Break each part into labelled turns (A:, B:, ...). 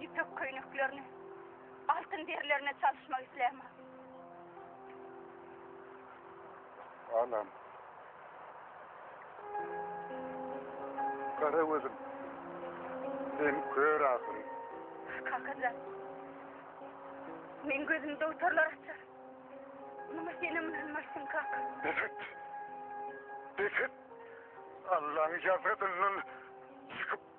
A: Ýüpek köýneklerini altyn derilerine çalyşmak isläme. Alam. Kara gözüm. Sen kör ahyry. Kakajan. Men gözümde utarlar açar. Numa senem bilmersin kaka. Defet. Defet. Allah'ın yazgıdından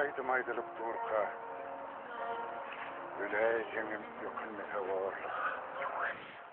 A: aýdym aýdylyp durka Öle ýeňim ýökünmese gorluk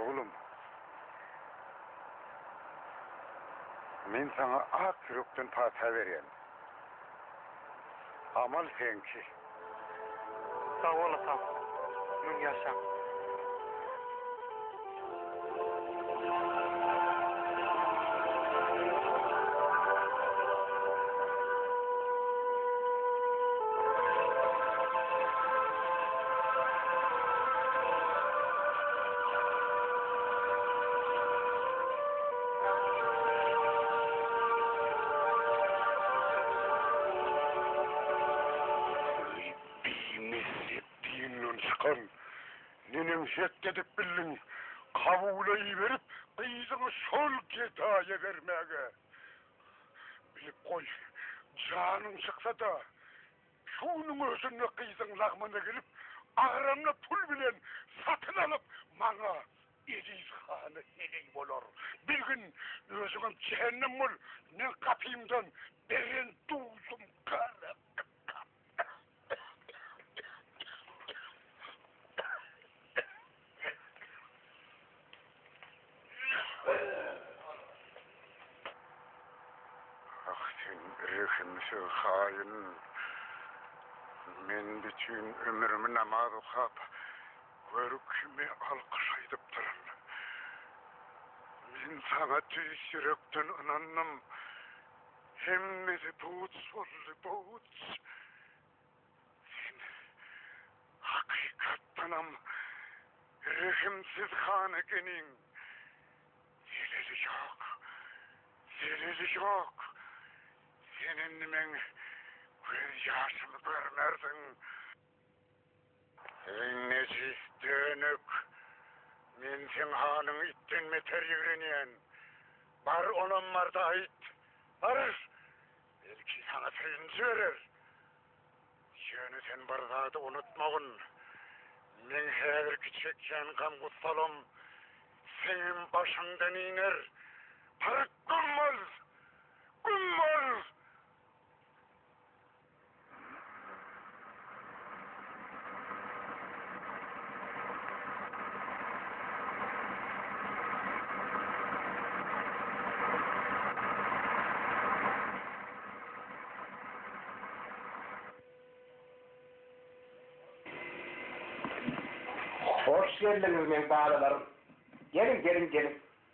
A: Oglum, men saňa ak ýürekden pata berýän. Amal seňki. Sag bol atam. Müň ýaşaň. şert edip bildiň. Kabula iberip, gyzyňy şol gedaýa bermäge. Bilip goý, janyň çyksa-da, Şu günüň özünde gyzyň lagmana gelip, agramy pul bilen satyn alyp, maňa Eziz hana heleý bolar. Bir gün özüňem jähennem bol, meň gapymdan beren duzym gara gytap. Ah sen rehimsiz haýyn! Men bütin ömrümi namaz okap, gör kimi alkyş aýdypdyryn. Men saňa tüýs ýürekden ynandym. Hemmesi puç boldy, puç! Sen, hakykatdanam, rehimsiz han ekeniň. Zeleli ýok, zeleli ýok. Sen indi meň göz ýaşymy görmersiň. Sen nejis dönük, men seň hanyň itden beter ýigrenýän. Bar onam barda aýt, bar! Belki saňa söýünç berer. Ýöne sen bir zady unutmagyn, meň häzirki çekýän gam-gussalam seňem başyňdan iner. Paryk güm bol! Güm bol! Hoş geldiňiz meň balalarym. Geliň, geliň, geliň.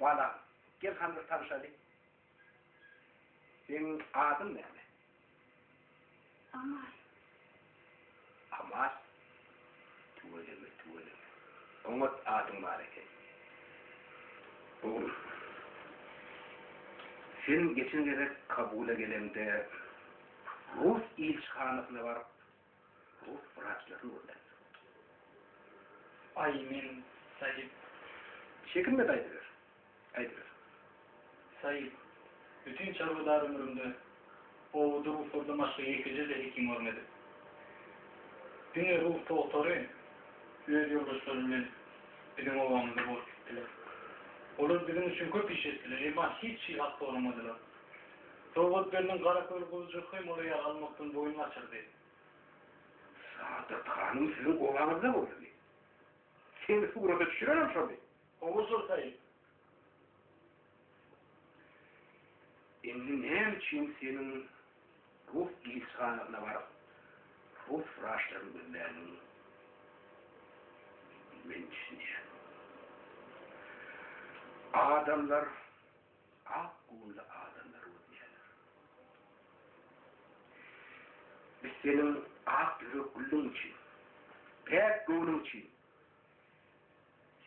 A: Balam, gel hany bir tanyşaly. Seniň adyň näme? Amal. Amal? Tüweleme, tüweleme. Oňat adyň bar eken. Oglum, sen geçen gezek Kabula geleňde rus ilçihanasyna baryp, Bu wraçlaryň gürrüňi. Aý, men, Saýyp. Çekinme-de aýdyber. Aýdyber. Saýyp, bütin çarwadar ömrümde owudy ruslardan başga ýekeje-de hekim görmedim. Diňe rus togtary öz ýoldaşlary bilen biziň obamyzda bolup gitdiler. Olar biziň üçin köp iş etdiler, emma hiç şyhat soramadylar. Döwletgeldiň Garaköl guzujyk hem uly ýagalmakdan boýun gaçyrdy. Saadat hanym siziň obaňyzda boldumy? Seni surata düşürenem şoldy. Hawa, soltaýyn. Indi näme üçin seniň rus ilçihanasyna baryp, rus wraçlaryny gözländigiňi men düşünýän. Adamlar. Ak göwünli adamlar öwünýärler. Biz seniň ak ýürek gülüň üçin, päk göwnüň üçin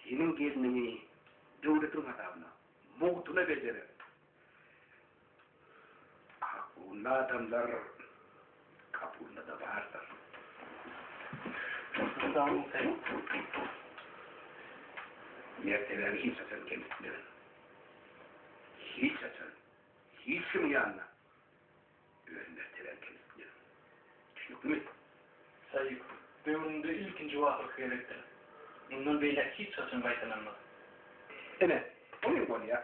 A: seniň gelniňi döwletiň hasabyna, mugtuna bejerek. Ak göwünli adamlar. Kapunda da bardyr. Sultanyň sen mertebäni hiç haçan kemsitme. Hiç haçan, hiç kim ýanyna öz mertebäni kemsitme. Düşünikmi? Saýyp, döwründe ilkinji we ahyrky gezekdir. Mundan beýläk hiç haçan gaýtalanmaz. Ine, bu hem bolýar.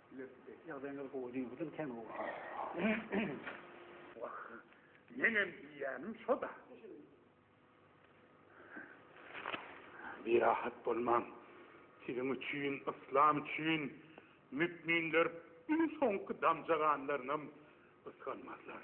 A: Ýagdaýyňyz gowy diýibidin sen oglan. Wah, menem diýýänim şo-da. Birahat bolmaň. Siziň üçin, yslam üçin mükminler iň soňky damja ganlarynam gysganmazlar.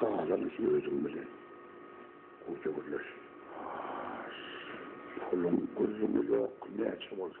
A: Galan işi özüm bilen. Koca gürleş. Pulum gözümü yok. Ne açı olsa.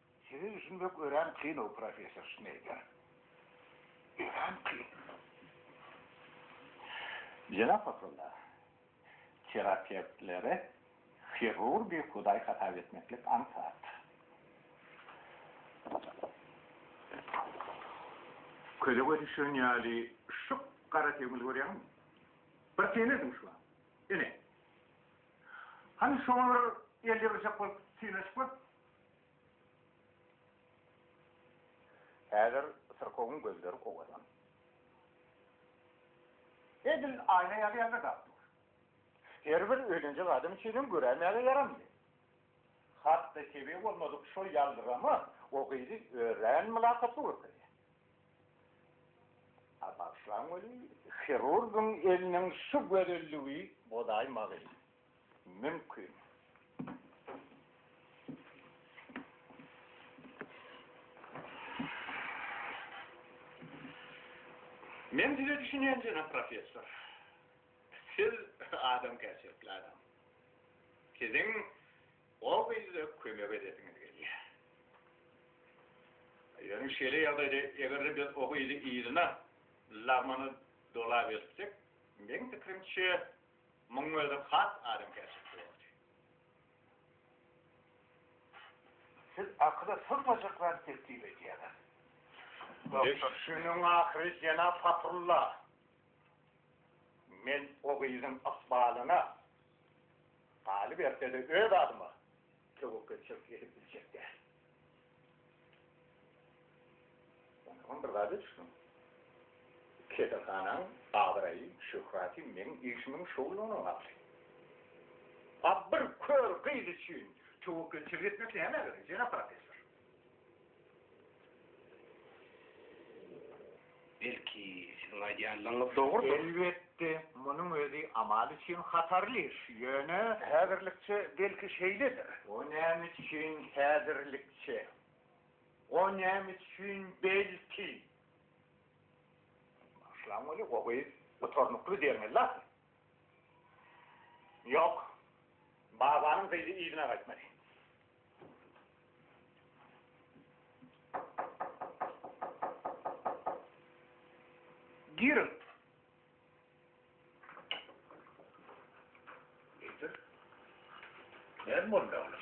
A: Sizi düşünmek örän kyn-ow, professor Şneýder. Örän kyn. Jenap Abdulla, terapewtleri hirurgy hudaý hasap etmeklik aňsat. Köze göz düşen ýaly şyp gara tegmil görýäňmi? Bir synanyň şu wagt. Ine. Hany şoňa bir el ýygrjak bolup synanyşyp gör. Häzir syrkawyň gözleri owadan. Edil aýna ýaly ýaldyrdap dur. Her bir öýlenjek adam üçin hem göräýmäge ýaramly. Hat-da tebigy bolmadyk şol ýaldyrama o gyzy örän mylakatly görkezýär. A bagyşlaň weli, hirurgyň eliniň şu gözelligi bozaýmagy. mümkin. Men size düşünýän jenap professor. Siz adamkärçilikli adam. Siziň o gyza kömek edesiňiz gelýär. Ýöne şeýle ýagdaýda eger-de biz o gyzy yzyna lagmana dolabertsek, meň pikirimçe, Muň özem has adamkärçilikli boldy. Siz akyla sygmajak zat teklip edýäňiz. Doktor. Günüň ahyry jenap Fathrulla. Men o gyzyň ykbalyna, galyberse-de öz adyma, Töwekgelçilik edip biljek däl. Onsoňam bir zada düşüniň. Keselhanaň abraýy, şöhraty meň işimiň şowlugyna bagly. A bir kör gyz üçin töwekgelçilik etmek näme gerek, jenap professor? Belki siziň aýdýanlaryňyz dogrudyr? Elbetde, munuň özi Amal üçin hatarly iş, ýöne. Häzirlikçe belki şeýledir. O näme üçin häzirlikçe? O näme üçin belki? Bagyşlaň weli, o gyz gutarnykly derňeldi ahyry. Ýok, babanyň gyzy yzyna gaýtmady. Giriň. Getir. Näme boldy oglum?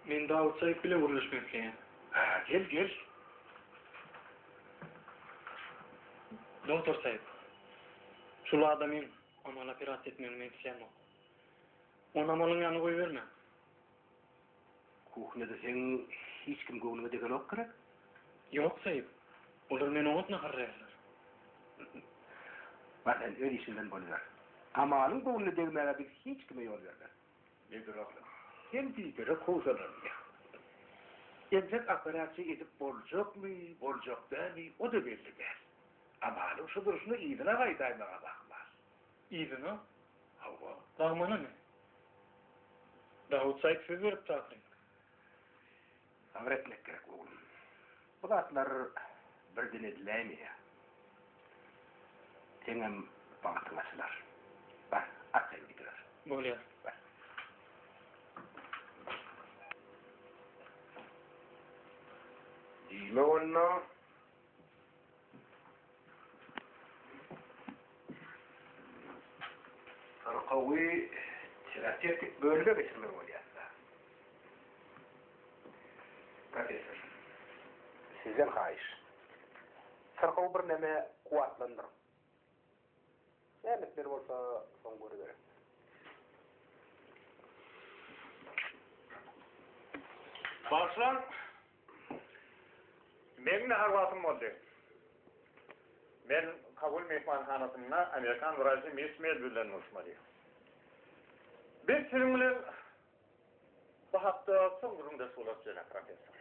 A: Men Dawut Saýyp bilen gürleşmek isleýän. Ha, gel, gel. Doktor Saýyp, şul adamyň amaly operasiýa etmegini men isleýänok. Ony amalyň ýanyna goýbermäň. Kuhnada seň hiç kim göwnüňe degenok gerek? Ýok, Seýik. Olar meni oňat naharlaýarlar. Bar, sen öz işiň bilen boluber. Amalyň göwnüne degmäge biz hiç kime ýol bermeris. Nedir agam, sen diýdere howsalanma. Entek operasiýa edip boljakmy, boljak dälmi, o-da belli däl. Amalyň şu durşuna yzyna gaýdaýmaga ahmal. Yzyna, Hawa. Lagmana ne? Dawut Saýk söz beripdi ahyryn. Sabyr etmek gerek, oglum. Bu zatlar birden ediläýmeýär. Seňem bagtyň açylar. Bar, arkaýyn gidiber. Bolýar. Bar. Diýme onda. Yrkawy terapewtik bölüme geçirmeli bolýarlar. Professor, sizden haýyş. Syrkawy birneme kuwwatlandyryň. Nämeler bolsa soň görüberis. Başlan Meň nahar wagtym boldy. Men Kabul myhmanhanasynda amerikan wraçy miss Mel bilen duşmaly. Biz siziň bilen bu hakda soň gürrüňdeş bolarys, jenap professor.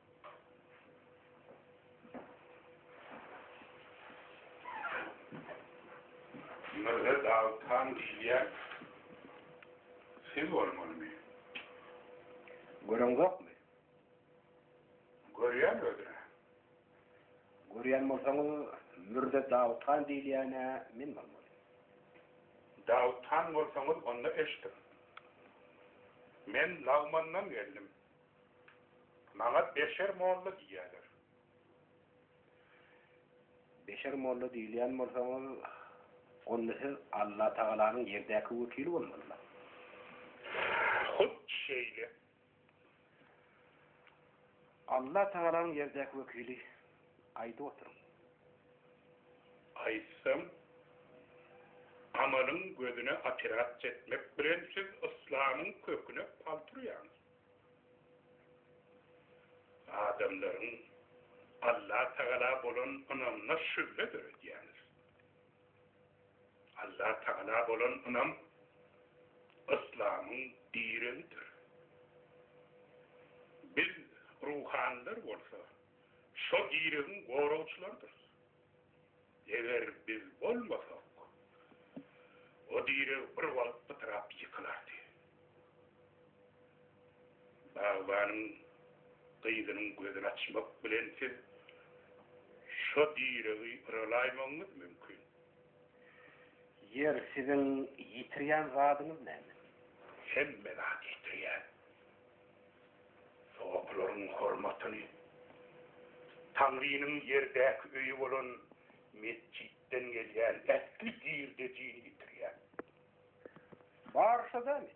A: Mürze Dawuthan diýilýän siz bolmalymy? Göreňzokmy? Görýän özüne. Görýän bolsaňyz, Mürze Dawuthan diýilýän-ä men bolmaly. Dawuthan bolsaňyz, onda eşidiň. Men lagmandan geldim. Maňa Beşer molla diýýärler. Beşer molla diýilýän bolsaňyz, onda siz Allatagalanyň ýerdäki wekili bolmalydyr. Hut şeýle. Allatagalanyň ýerdäki wekili, aýdyp oturyň. Aýtsam, amalyň gözüne operasiýa etmek bilen siz yslamyň köküne palt urýaňyz. Adamlaryň Allatagala bolan ynamyna şübhe döredýäňiz. Allatagala bolan ynam yslamyň diregidir. Biz ruhanylar bolsa şo diregiň goragçylarydyrys. Eger biz bolmasak, o direg bir wagt pytrap ýykylardy. Bagbanyň gyzynyň gözüni açmak bilen siz şo diregi yralaýmagyňyz mümkin. Ýeri, siziň ýitirýän zadyňyz näme? Hemme zady ýitirýän. Sogapylaryň hormatyny Taňrynyň ýerdäki öýi bolan metjitden gelýän ähli girdejini ýitirýär. Barsa-da men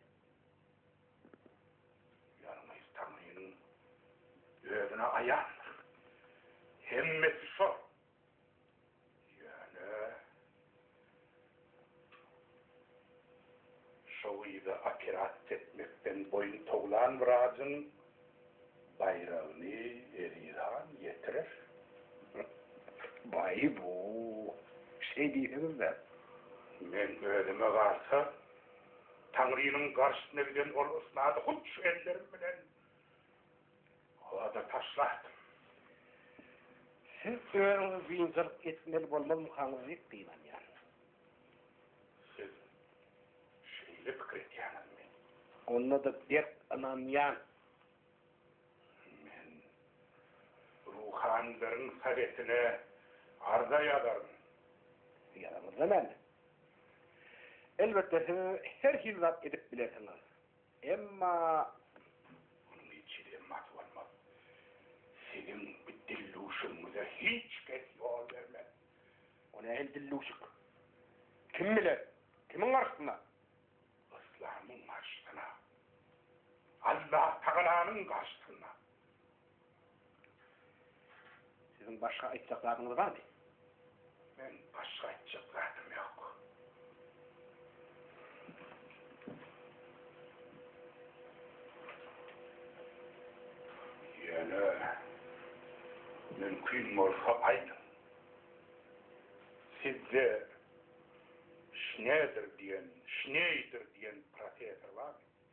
A: ýalňyz Taňrynyň Özüne aýandyr. Hemmesi şol. Ýöne şo gyza operasiýa etmekden boýun towlan wrajyň baýragyny Eziz han ýetirer. Baý bu, şeý diýseňiz-dä. Men özüme galsa, Taňrynyň garşysyna giden ol ysnady hut şu ellerim bilen. Oda taşlardim. Siz özüňizi biynjalyk etmeli bolmazmykaňyz diýip gynanýan. Siz şeýle pikir etýäňizmi? Onda-da berk ynanýan. Men ruhanylryň sowetine arza ýazaryn. Ýazaňyzda näme? Elbetde siz her hili zat edip bilersiňiz. Emma munuň hiç hili gymmaty bolmaz. Siziň bu dilluşygyňyza hiç kes ýol bermez. O nähili dilluşyk? Kim bilen? Kimiň garşysyna? Yslamyň garşysyna. Allatagalanyň garşysyna. Siziň başga aýtjak zadyňyz barmy? Men başga aýtjak zadym ýok. Ýöne mümkin bolsa aýdyň. Sizde Şneder diýen, Şneýder diýen professor barmy?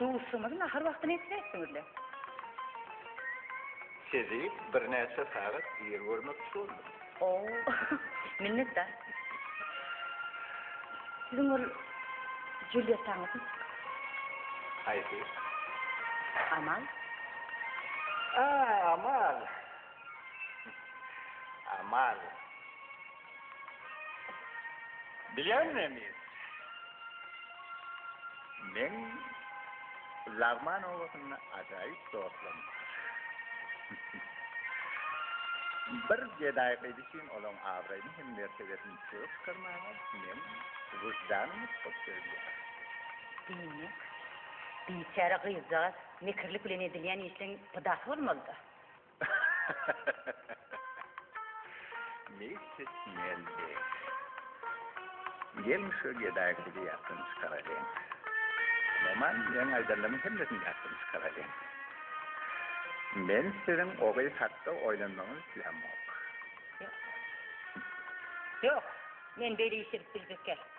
A: Duşuşygymyzy nahar wagty näçe etdiňizle? Sizi birnäçe sagat ir görmekçi boldum. Oh, minnetdar. Siziň ol Julýettaňyzmy? Haýsy? Amal. A, Amal. Amal. Bilýän emir. Men Lagman obasynda ajaýyp dostum. Bir gedaý gyz üçin olaň abraýyny hem mertebesini çökdürmäge men wyždanymy tutup bilýän. Diýmek, biçäre gyzjagaz mekirlik bilen edilýän işleň pydasy bolmalyda? Misis Meldi. Gelin şu gedaýy kidi ýatdan çykaraýyn. Maman, men aýdanlaryň hemmesini ýatdan çykaraýyn. Men siziň o gyz hakda oýlanmagyňyzy islämok. Ýok. Ýok. Men beli işirip biljek däl.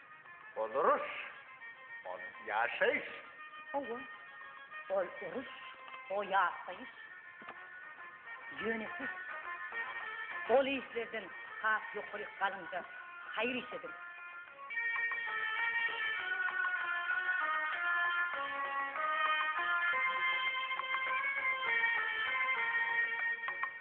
A: Ol uruş, ol ýaşaýyş. Hawa, ol uruş, o ýaşaýyş. Ýöne siz ol işlerden has ýokaryk galyňda haýyr iş ediň.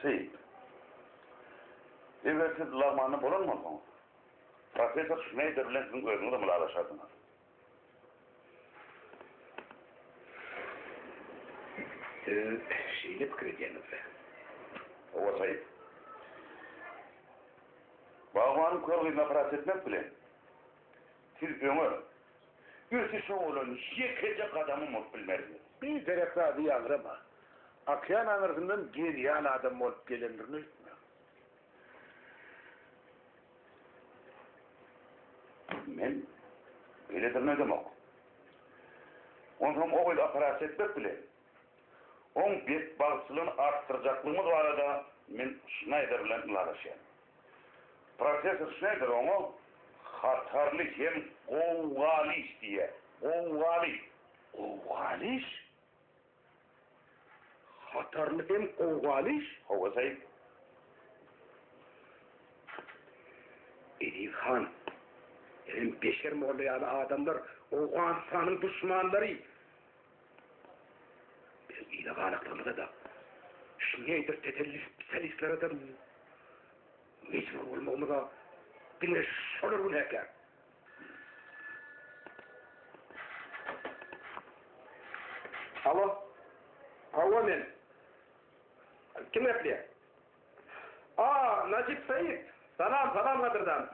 A: Seýit. Eger siz lagmanda bolan bolsaňyz, professor Şneýder bilen siziň özüňiz hem ylalaşardyňyz. Siz şeýle pikir edýäňizmi? Hawa, Seýit. Bagmanyň kör gyzyna paraz etmek bilen, Siz öňe, ösüşe bolan ýekeje gadamym bolup bilmersiňiz. Bir derek zady ýaňrama. Okean aňyrsyndan genial adam bolup gelendirin öýtme. Men beýledirini öýdemok. Onsoň o gyzy operasiýa etmek bilen, oň betbagtçylygyny artdyrjaklygymyz barada men Şnaýder bilen ylalaşýan. Professor Şneider oňa hatarly hem gowgaly iş diýýär. Gowgaly. Gowgaly iş? Hatarly hem gowgaly iş? Hawa, Said. Eziz han, enem Beşer molla ýaly adamlar Owganystanyň duşmanlary. Biz ýyla galakdygymyza-da, Şneýder tetelli spesialistlere-de mejbur bolmagymyza diňe şolar gün häkär. Alo, hawa men. Kim gepleýär? A, Najip Said. Salam, salam gadyrdan.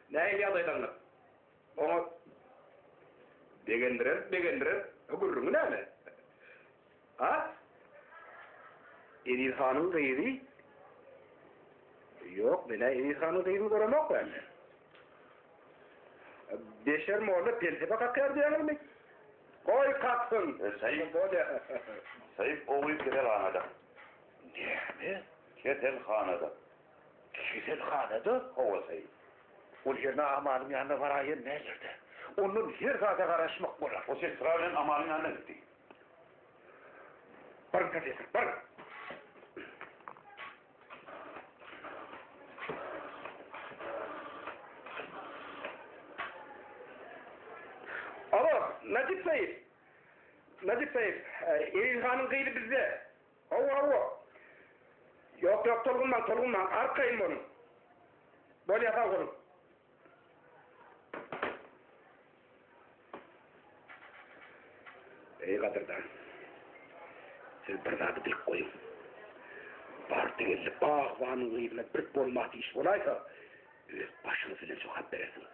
A: Nähili ýagdaýlaryňyz? Oňa begendirer-begendirer, bu gürrüňi näme? A? Eziz hanyň gyzy? Ýok, men-ä Eziz hanyň gyzyny göremok bärde. Beşer molla pelsepe kakýar diýýäňizmi? Goý kaksyn! Seýit, Seýit oguýy keselhanada. Näme? Keselhanada. Keselhana-da howasaý. Ol ýerine Amalyň ýanyna baraýan mäller-dä. Ondan her zada garaşmak bolar. Ol sestra bilen Amalyň ýanyna gitdi. Baryň, professor, baryň! Alo, Najyp saýyp! Najyp saýyp, Eýilhanyň gyzy bizde. Hawa-hawa. Ýok-ýok, tolgunmaň, tolgunmaň, arkaýyn boluň. Bolýa, sag boluň. Eý, gadyrdan, siz bir zady bilip goýuň. Bardy-geldi bagbanyň gyzyna bir bolmaty iş bolaýsa, öz başyňyz bilen jogap berersiňiz.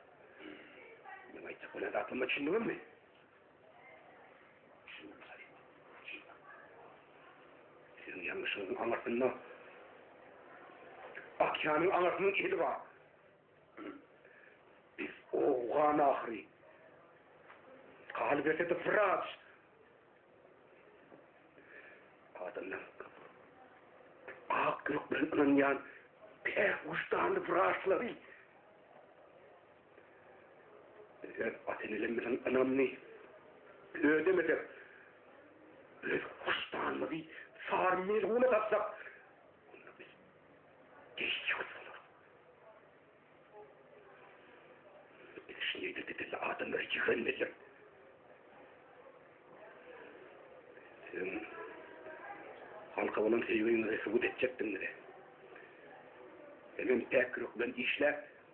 A: Meň aýtjak bolan zatlaryma düşündiňizmi? Sizin ýalňyşyňyzyň aňyrsynda Akýanyň aňyrsynyň eli bar. Biz owgan ahyry. Galyp etse de Fırat. Adamlar ak gök bilen ynanýan päk wujdanly Fıratçylary. Öz Watanelimizin ynamyny ödemesek, öz hoşdanymyzy sary melguna satsak, onda biz deýjek bolarys. Biz şeýle didilli adamlary ýigrenmelidir. Sen halka bolan söýgiňizi subut etjekdiňizi, hemen päk ruh bilen işläp,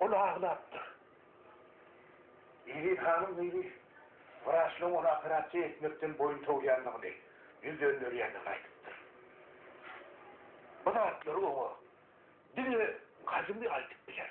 A: Ol aglapdyr. Eziz hanyň gyzy wraçlaryň ony operasiýa etmekden boýun towýandygyny, ýüz dönderýändigini aýdypdyr. Bu zatlary oňa diňe Gazymy aýdyp biler.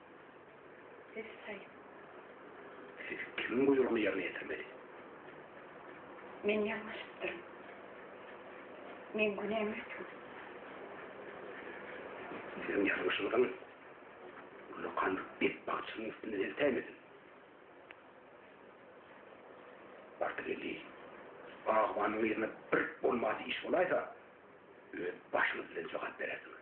A: Essaý. Siz kimiň buýrugyny ýerine ýetirmeli? Men ýalňyşypdyryn. Meň günäm ötgün. Siziň ýalňyşyňyzyň Gülokanyň et bagçynyň üstünden eltäýmesin. Bardygeldi bagbanyň yzyna bir bolmady iş bolaýsa, öz başyňyz bilen jogap berersiňiz.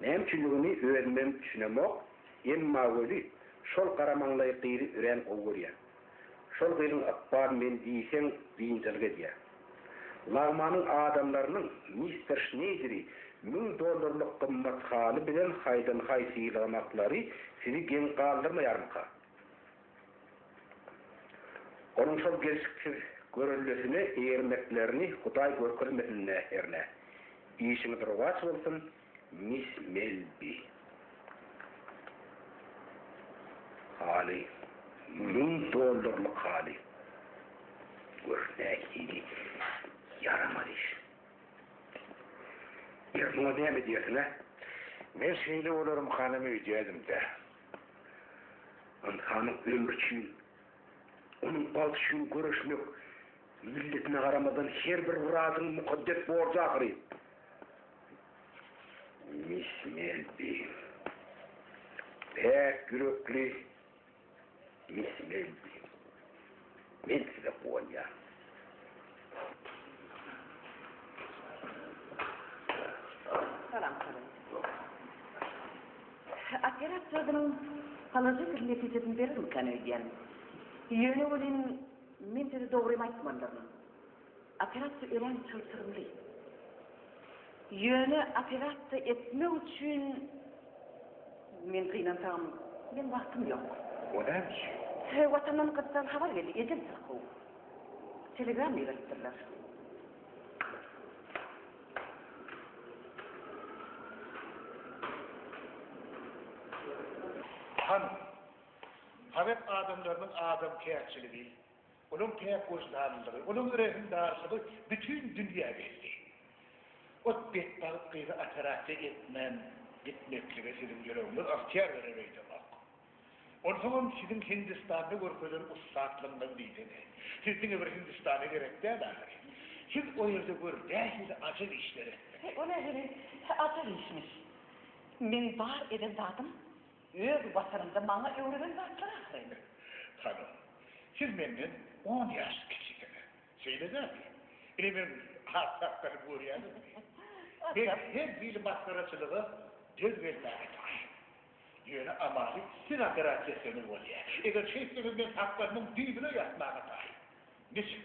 A: Näme üçindigini özümem düşünemok, emma weli, şol gara maňlaýy gyzy örän gowy görýän. Şol gyzyň ykbaly meni diýseň biynjalyk edýär. Lagmanyň adamlarynyň mister Şneýderi müň dollarlyk gymmat haly bilen haýdan-haý sylagamaklary sizi geň galdyrmaýarmyka? Onuň şol gelşiksiz görellesine eýermeklerini Hudaý görkezmesin-dä hernä. Işiňiz rowaç bolsun, miss Melbi. Haly. Müň dollarlyk haly. Gör, nähili ýaramaz iş. Ýör, muňa näme diýersiň-ä? Men şeýle bolarymkana öýdýädim-dä. Ynsanyň ömri üçin, onuň bagty üçin göreşmek milletine garamazdan her bir wrazyň mukaddes borjy ahyry. Mis Melbi. Päk ýürekli Mis Melbi. Men size guwanýaryn. Salam, salam. Operasiýadan halaja bir netijesini berermikan öýdýän. Ýöne welin, men size dogrymy aýtmandyryn. Operasiýa örän çylşyrymly. Ýöne operasiýa etmek üçin men gynansagam, meň wagtym ýok. O näme üçin? Söýgi watandan gyzdan habar geldi, ejem syrkaw. Telegram iberipdirler. Hanym, sowet adamlarynyň adamkärçiligi. Onuň päk wyždanlylygy, onuň rehimdarlygy bütin dünýä belli. Ot betbagt gyzy operasiýa etmän gitmeklige siziň ýüregiňiz ygtyýar berer öýdemok. Onsoňam siziň Hindistanda görkezen ussatlygyňyz diýsene. Siz diňe bir Hindistana gerek däl ahyry. Siz o ýerde gör nähili ajap işler etdiňiz. O nähili ajap işmiş. Meň bar eden zadym Öz Watanymda maňa öwreden zatlar ahyry. Hanym, siz menden on ýaş kiçisiňiz. Şeýle dälmi? Ine men has saklanyp görýäňizmi? Men her hili masgaraçylyga döz gelmäge taýyn. Ýöne amaly siz operasiýa sömür bolýar. Eger şeýtseňiz men saklanyň düýbüne ýatmaga taýyn. Niçik?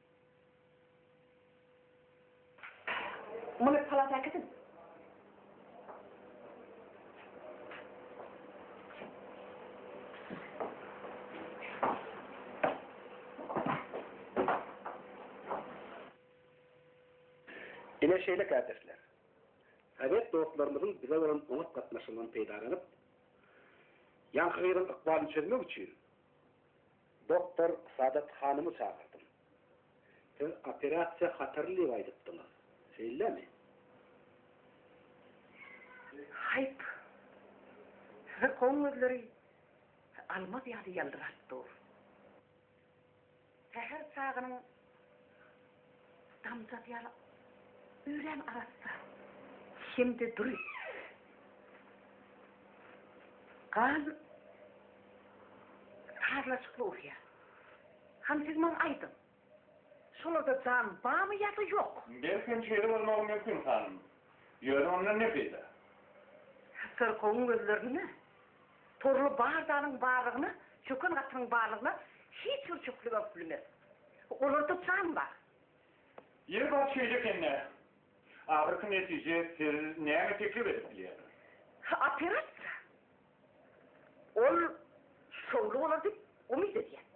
A: Muny palata äkisiň. Ine şeýle kärdeşler. Sowet dostlarymyzyň bize bolan oňat gatnaşygyndan peýdalanyp, ýaňky gyzyň ykbalyny çözmek üçin, Doktor Saadat hanymy çagyrdym. Siz operasiýa hatarly diýip aýdypdyňyz, şeýlemi? Haýp! Syrkawyň gözleri almaz ýaly ýyldyraýyp dur. Säher çagynyň Damjak ýaly örän arassa hem-de dury. Gan sazlaşykly urýar. Hany siz maňa aýdyň, şolarda jan barmy ýa-da ýok? Belkem şeýle bolmagy mümkin, hanym. Ýöne ondan ne peýda? Syrkawyň gözlerinde Torly bardalyň barlygyna, çöken gatynyň barlygyna hiç bir çöklegem bilmez. Olar tutsaň bar. Ýeri bar şeýle ekende. Ahyrky netije siz näme teklip edip bilýärsiňiz? Operasiýa. Ol şowly bolar diýip umyt edýän.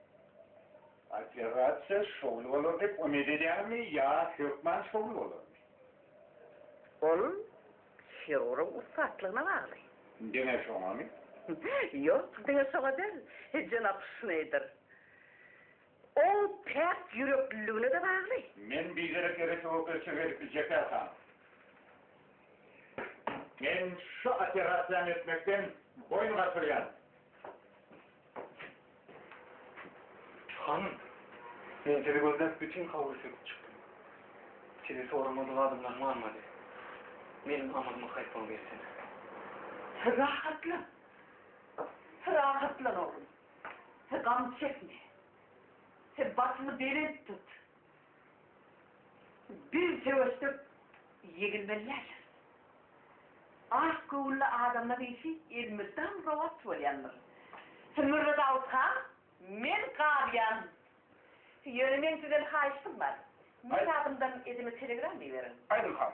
A: Operasiýa şowly bolar diýip umyt edýäňizmi ýa hökman şowly bolarmy? Ol hirurgyň ussatlygyna bagly. Diňe şoňamy? Ýok, diňe şoňa däl, jenap Şneýder. Oň päk ýürekliligine-de bagly. Men biderek eretegökde çögelip biljekdäl han. Men şu operasiýany etmekden boýun gaçyrýan. Han, men sizi gözläp bütin howly söküp çykdym. Sizi soramadyk adamlar galmady. Meniň amalymy haýp bolup etsene. Rahatlan. Rahatlan oglum. Sen gam çekme. Sen başyňy belent tut. Biz söweşsek ýeňilmeli däldiris. Ak göwünli adamlaň işi elmydam rowaç bolýandyr. Sen Mürze Dawut han, men galýan. Ýöne meň sizden haýyştym bar. Meň adymdan ezime telegram iberiň. Aýdyň han.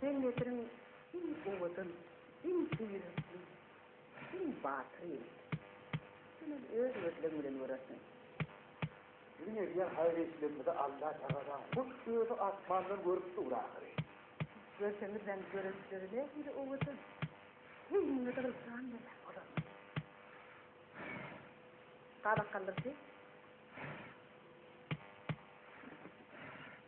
A: Sen Nesiriň iň owadan, iň heýretli, iň batyr ýigidi. Senem öz gözleň bilen görersiň. Biziň edýän haýyr-işlerimizi Alla tagala hut özi asmandan görüp dur ahyry. Görseňizem görençleri nähili owadan. Heýiňizi gylçan berýän bolarmyş. Gabak galdyrdy.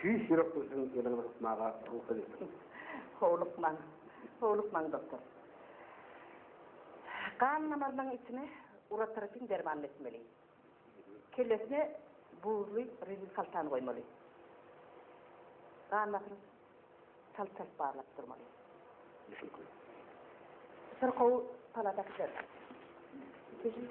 A: Tüýs ýürek gülsün ýylyňyzy gysmaga rugsat etsin. Howlukmaň. Howlukmaň doktor. Gan damarynyň içine urotrofin dermanyny etmeli. Kellesine buzly rezin haltany goýmaly. Gan basyny çalt-çalt barlap durmaly. Düşnükli. Syrkawy palata gider. Keşik.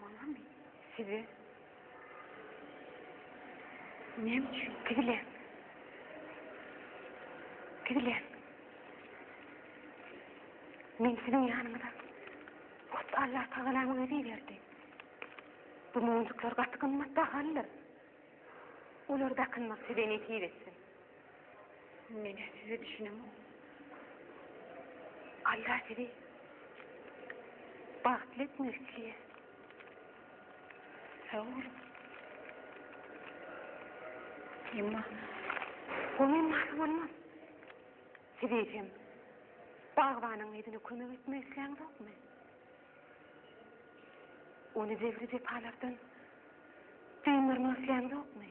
A: Maňamy? Size. Näme üçin? Tigile. Tigile. Men siziň ýanyňyza. Hut Allah tagalamyň özi berdi. Bu monjuklar gaty gymmat bahalydyr. Olar dakynmak size nesip etsin. Menä size düşünemok. Allah sizi bagtly etmek isleýär. Sag boluň. Emma goňy mahal bolmaz. Siz eýsem, bagbanyň yzyna kömek etmek isleýäňizokmy? Ony jebri-jepalardan dyndarmak isläňizokmy?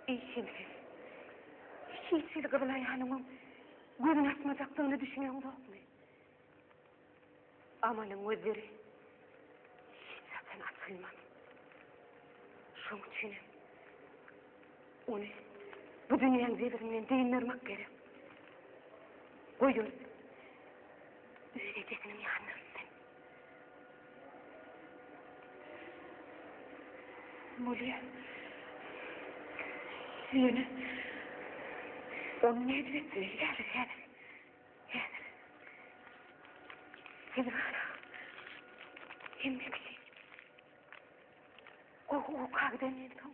A: Işimsiz, hiç hili gyzyl aýalyňyň gözüni açmajakdygyna düşüneňizokmy? Amalyň gözleri hiç haçan açylmaz. Şoň üçinem Ony bu dünýäň jebirinden dyndarmak gerek. Goý görsün. Öz ejesiniň ýanyna gitsin. Mulýa. Ýöne ony nädip etmeli häzir, häzir. Häzir. Häzir hala. Hemme kişi. Gowy, gowy, kagdan ýetim.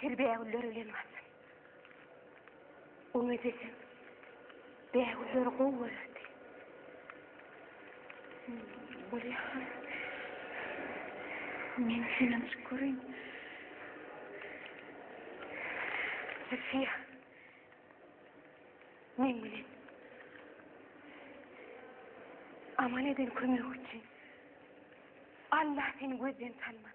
A: Tel bägüller bilen gaçyň. Umyt edem. Bägüller gowy görerdi. Bolýa. Men senden çyk göreyim. Sesiye. Men bilen. Aman eden kömek üçin. Allah seni gözden tanmaz.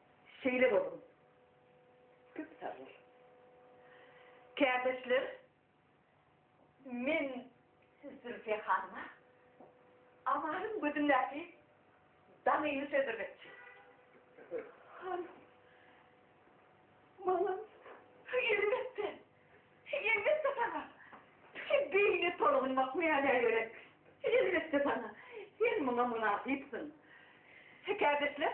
A: Şeýle boluň. Köp sag bol. Kärdeşler men siz Zülfiýe hanyma Amalyň gözündäki daňyny sezdirmekçi. Hanym. Maňa elbetde. Elbetde saňa. Şu beýni tolgunmak mäne gerek. Elbetde saňa. Sen muňa mynasypsyň. Kärdeşler.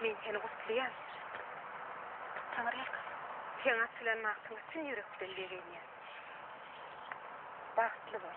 A: Men seni gutlaýan. Taňry ýalkasyn. Sen açylan magtyňa çyn ýürekden begenýän. Bagtly bol.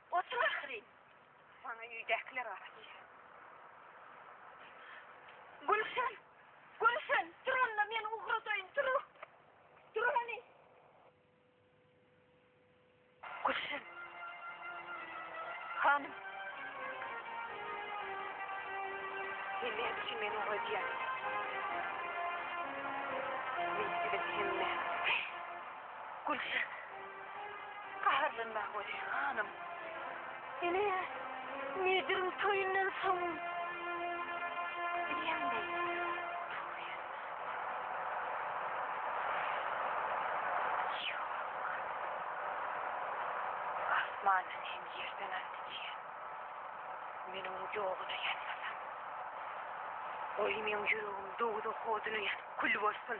A: Otur ahyryn. Saňa öýdäkiler gara diýýär. Gülşen! Gülşen! Tur onda men ugradaýyn, tur! Tur hany! Gülşen! Hanym! Sen näme üçin meni ugradýaň? Men siziň hemme. Gülşen. Gaharlanma welin, hanym. Ine, Mediriň toýundan soň. Bilýänmi? Asmandan hem ýerden aldy diýen. Meniň ýoguna ýanmasam. Oý, meň ýüregim dowzah oduna ýanyp kül bolsun.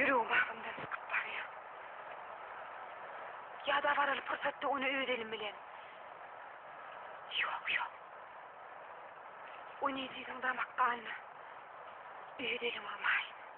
A: Ýüregim agzymdan çykyp barýar. Ýa-da baraly pursatda ony öz elim bilen. Ýok, ýok. Ony ejiziň damak ganyna öz elim urmaýyn.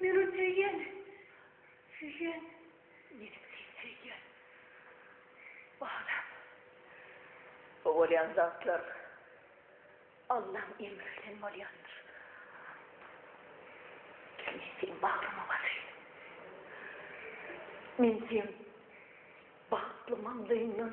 A: Meniň söýýän, söýýän. Meniň sen söýýän. Balam. Bu bolýan zatlar Allaň emri bilen bolýandyr. Gel men seniň bagryňa basaýyn. Men seň bagtly maňlaýyňdan.